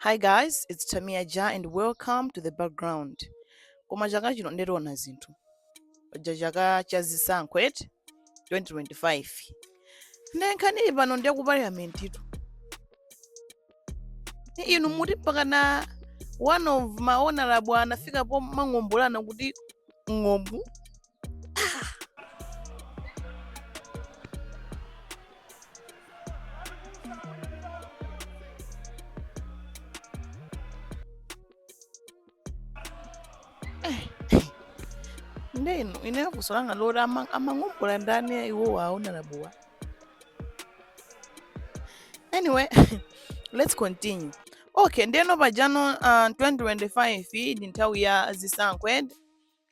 Hi guys, it's Tamia Ja and welcome to the background. Koma chaka chino nde tiona zinthu. Paja chaka cha zisankho eti 2025. Nde nkhani ili pano ndi ya ku parliament-tu. Inu muti mpakana one of ma honorable anafika pomang'ombolana kuti ng'ombu ndeno ine funso langa loti ama- amang'ombola ndani ya iwowo a honorable-wa anyway let's continue okay ndeno pajano uh, 2025 iyi ndi nthawi ya zisankho eti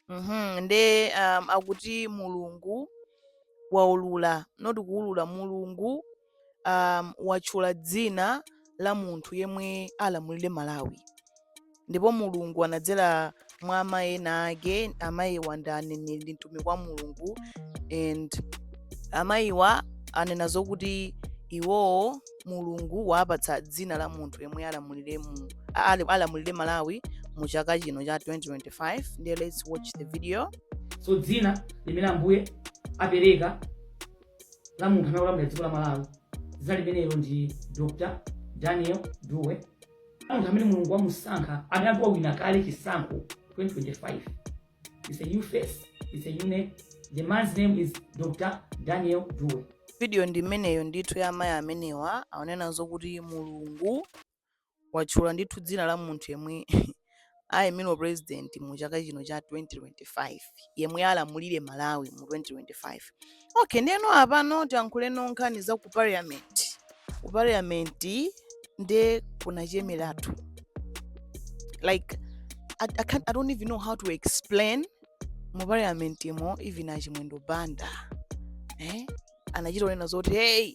Mhm, nde um, akuti mulungu waulula osati kuulula mulungu um, watchula dzina la munthu yemwe alamulire malawi ndipo mulungu anadzera mwa amayi ena ake amayiwa ndi aneneri ndi mtumiki wa mulungu and amayiwa anena zokuti iwowo mulungu wawapatsa dzina la munthu yemwe alamulire mu a- ali- alamulire malawi mu chaka chino cha 2025 ndiye let's watch the video so dzina limene ambuye apereka la munthu amene akulamulira dziko la malawi dzina limenelo ndi dr daniel dube munthu amene mulungu wamusankha amene ati wawina kale chisankho 2025 It's a new face. It's a new name. The man's name is Dr. Daniel Dube. Video ndi imeneyo ndithu ya amayi amenewa akunena zokuti Mulungu watchula ndithu dzina la munthu yemwe ayimira president mu chaka chino cha 2025 yemwe alamulire Malawi mu 2025. okay ndeno apano tiyankhuleko nkhani za ku parliament ku parliament nde kunachemeratu like I, I, can't, i don't even know how to explain mu parliament mo even achimwendo banda eh? anachita kunena zoti hey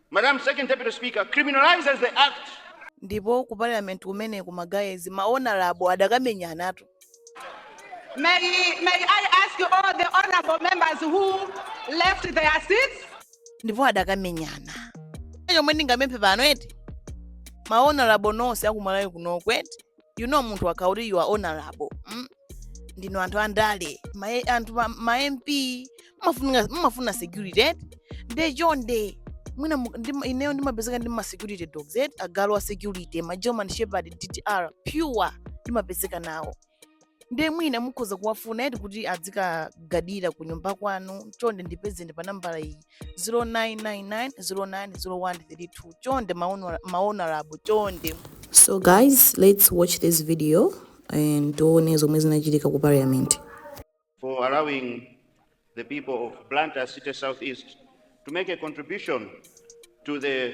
Madam Second Deputy Speaker, criminalizes the act. Ndipo ku parliament kumeneko ma guys, ma honourable adakamenyanatu. May, may I ask you all the honorable members who left their seats? Ndipo adakamenyana. Chomwe ndingamemphe pano eti. Ma honorable nonse aku Malawi kunoko eti. You know munthu akati you are honorable. Mm? ndinu anthu andale ma, anthu ma, ma mp mumafuna mumafuna security eh? nde chonde mwina mu- ndima- ineyo ndimapezeka ndi ma security dogs eh? agalu a security ma german shepherd ddr pure ndimapezeka nawo nde mwina mukhoza kuwafuna eti kuti adzikagardira ku nyumba kwanu chonde ndipezeni pa nambala iyi 0999090132 chonde maono- maonorable chonde So guys, let's watch this video and tione zomwe zinachitika ku parliament. for allowing the people of Blantyre City Southeast to make a contribution to the